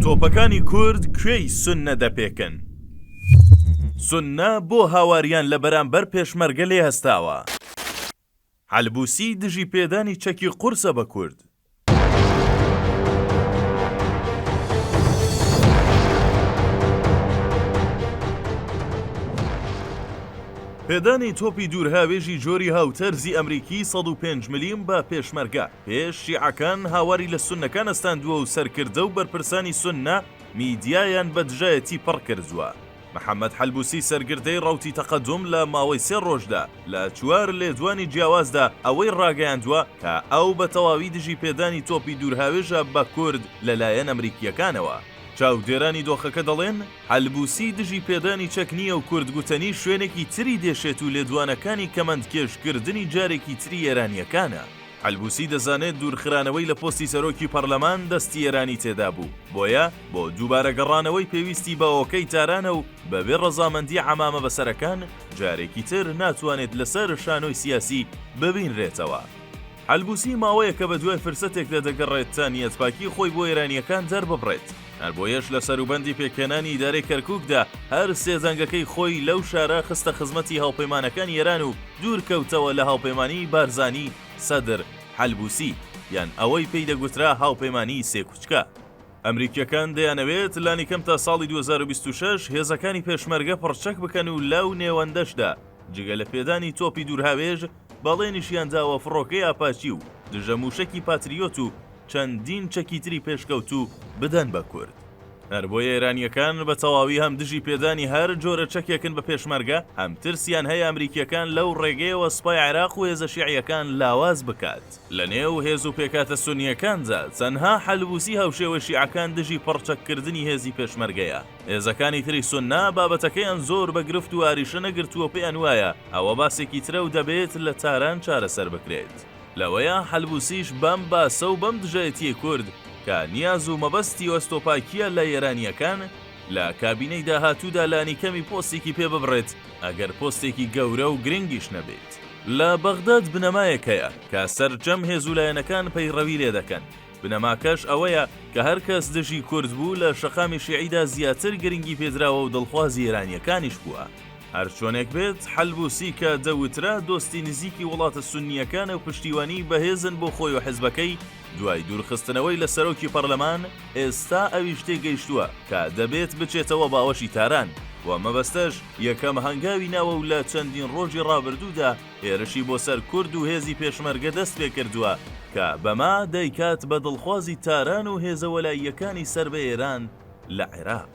تۆپەکانی کورد کوێی سوننە دەپێکن؟ سوننە بۆ هاواریان لە بەرامبەر پێشمەرگە لێ هەستاوە؟ حەلبوسی دژی پێدانی چەکی قورسە بە کورد؟ پێدانی تۆپی دوورهاوێژی جۆری هاوتەرزی ئەمریکی سەد و پێنج ملیم بە پێشمەرگە؟ پێش شیعەکان هاواری لە سوننەکان ئەستاندووە و سەرکردە و بەرپرسانی سوننە میدیایان بە دژایەتی پڕ کردووە. محەمەد حەلبوسی سەرگردەی ڕەوتی تەقەدوم لە ماوەی سێ ڕۆژدا لە چوار لێدوانی جیاوازدا ئەوەی ڕاگەیاندووە کە ئەو بە تەواوی دژی پێدانی تۆپی دوورهاوێژە بە کورد لە لایەن ئەمریکییەکانەوە. چاودێرانی دۆخەکە دەڵێن، حەلبوسی دژی پێدانی چەک نییە و کورد گوتەنی شوێنێکی تری دێشێت و لێدوانەکانی کەمەندکێش کردنی جارێکی تری ئێرانییەکانە. حەلبوسی دەزانێت دوورخرانەوەی لە پۆستی سەرۆکی پەرلەمان دەستی ئێرانی تێدا بوو، بۆیە بۆ دووبارە گەڕانەوەی پێویستی بە ئۆکەی تارانە و بەبێ ڕەزامەندی عەمامە بەسەرەکان جارێکی تر ناتوانێت لەسەر شانۆی سیاسی ببینرێتەوە. حەلبوسی ماوەیەکە بەدوای فرسەتێکدا دەگەڕێت تا نیەتپاکی خۆی بۆ ئێرانییەکان دەرببڕێت، هەر بۆیەش لە سەروبەندی پێکهێنانی ئیدارەی کەرکووکدا هەر سێ زەنگەکەی خۆی لەو شارە خستە خزمەتی هاوپەیمانەکانی ئێران و دوور کەوتەوە لە هاوپەیمانیی بارزانی، سەدر، حەلبووسی، یان ئەوەی پێی دەگوترا هاوپەیمانیی سێ کوچکە. ئەمریکییەکان دەیانەوێت لانیکەم تا ساڵی دوو هەزار و بیست و شەش هێزەکانی پێشمەرگە پڕچەک بکەن و لەو نێوەندەشدا جگە لە پێدانی تۆپی دوورهاوێژ، بەڵێنیشیان داوە فڕۆکەی ئاپاچی و دژە مووشەکی پاتریۆت و چەندین چەکی تری پێشکەوتوو بدەن بە کورد. هەربۆیە ئێرانییەکان بە تەواوی هەم دژی پێدانی هەر جۆرە چەکێکن بە پێشمەرگە، هەم ترسیان هەیە ئەمریکییەکان لەو ڕێگەیەوە سوپای عێراق و هێزە شیعییەکان لاواز بکات. لە نێو هێز و پێکهاتە سوننییەکاندا، تەنها حەلبوسی هاوشێوەی شیعەکان دژی پڕچەککردنی هێزی پێشمەرگەیە. هێزەکانی تری سوننە بابەتەکەیان زۆر بە گرفت و ئاریشە نەگرتووە و پێیان وایە ئەوە باسێکی ترە و دەبێت لە تاران چارەسەر بکرێت. لەوەیە حەلبوسیش بەم باسە و بەم دژایەتیەی کورد کە نیاز و مەبەستی و ئەستۆپاکیە لە ئێرانیەکان، لە کابینەی داهاتوودا لانیکەمی پۆستێکی پێ ببڕێت، ئەگەر پۆستێکی گەورە و گرنگیش نەبێت. لە بەغداد بنەمایەک هەیە کە سەرجەم هێز و لایەنەکان پەیڕەوی لێ دەکەن، بنەماکەش ئەوەیە کە هەر کەس دژی کورد بوو لە شەقامی شیعیدا زیاتر گرنگی پێدراوە و دڵخوازی ئێرانیەکانیش بووە. هەرچۆنێک بێت، حەلبوسی کە دەوترا دۆستی نزیکی وڵاتە سوننییەکانە و پشتیوانیی بەهێزن بۆ خۆی و حزبەکەی، دوای دوورخستنەوەی لە سەرۆکی پەرلەمان، ئێستا ئەویش تێگەیشتووە کە دەبێت بچێتەوە باوەشی تاران و مەبەستەش یەکەم هەنگاوی ناوە و لە چەندین ڕۆژی ڕابردوودا هێرشی بۆ سەر کورد و هێزی پێشمەرگە دەستپێکردووە کە بەمە دەیکات بە دڵخوازی تاران و هێزە وەلاییەکانی سەر بە ئێران لە عێراق.